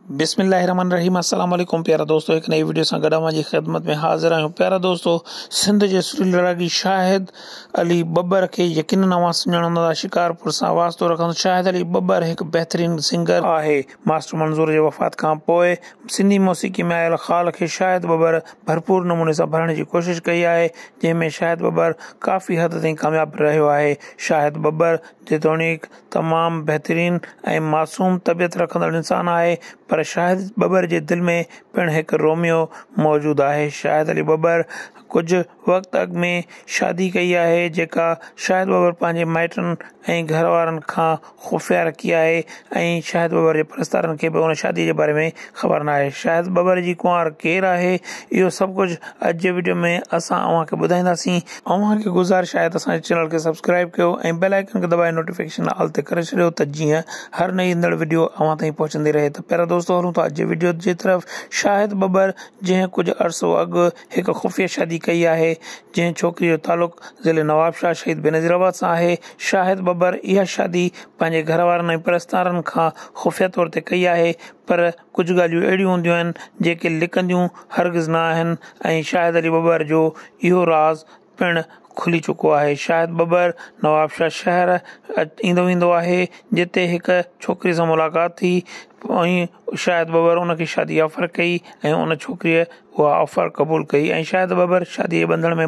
بسم الله الرحمن الرحيم السلام عليڪم پيارا دوستو هڪ نئين وڊيو سان گڏ اوهان جي خدمت ۾ حاضر آهيون پيارا دوستو سنڌ جي سري لڙاڪي شاهد علي ٻٻر کي يقينن اوهان سڃاڻندا شڪارپور سان واسطو رکندو شاهد علي ٻٻر هڪ بهترين سنگر آهي ماسٽر منظور جي وفات کان پوء سنڌي موسيقي ۾ آيل خال کي شاهد ٻٻر ڀرپور نموني سان ڀرڻ جي ڪوشش ڪئي آهي جنهن ۾ شاهد ٻٻر ڪافي حد تائين ڪامياب رهيو آهي شاهد ٻٻر جيتوڻيڪ تمام بهترين ۽ معصوم طبيعت رکندڙ انسان آهي پر شاهد ٻٻر جي دل ۾ پڻ هڪ روميو موجود آهي شاهد علي ٻٻر ڪجهه وقت اڳ ۾ شادي ڪئي آهي جيڪا شاهد ٻٻر پنهنجي مائٽن ۽ گهر وارن کان خفيه رکي آهي ۽ شاهد ٻٻر جي پرستارن کي به ان شادي جي باري ۾ خبر ناهي شايد ٻٻر جي ڪنوار ڪير آهي اهو سڀ ڪجهه اڄ جي وڊيو ۾ اسان اوهان کي ٻڌائينداسين اوهان کي گذارش آهي ته اسان جي چينل کي سبسڪرائيب ڪيو ۽ بيل آئيڪن کي دٻائي نوٽيفڪيشن آل تي ڪري ڇڏيو ته جيئن هر نئي ايندڙ وڊيو اوهان تائين پهچندي رهي ته پيارا دوستو هلون ٿا اڄ جي وڊيو جي طرف شاهد ٻٻر جنهن ڪجهه عرصو اڳ هڪ خفيه شادي ڪئي آهي جنهن ڇوڪري جو تعلق ضلعي نوابشاهه شهيد بينظير آباد سان آهي شاهد ٻٻر اها شادي پنهنجي گهر وارن ۽ پرستارن کان خفيه طور تي ڪئي آهي پر ڪجهه ڳالهيون اهڙيون هونديون آهن جيڪي لڪنديون هرگز نه آهن ۽ شاهد علي ٻٻر جو اهو راز پڻ کلي چڪو آهي. شاهد ٻٻر نوابشاهه شهر ايندو ويندو آهي جتي هڪ ڇوڪري سان ملاقات ٿي ۽ شاهد ٻٻر ان کي شادي جي آفر ڪئي ۽ ان ڇوڪريء اها آفر قبول ڪئي ۽ شاهد ٻٻر شاديء جي ٻنڌڻ ۾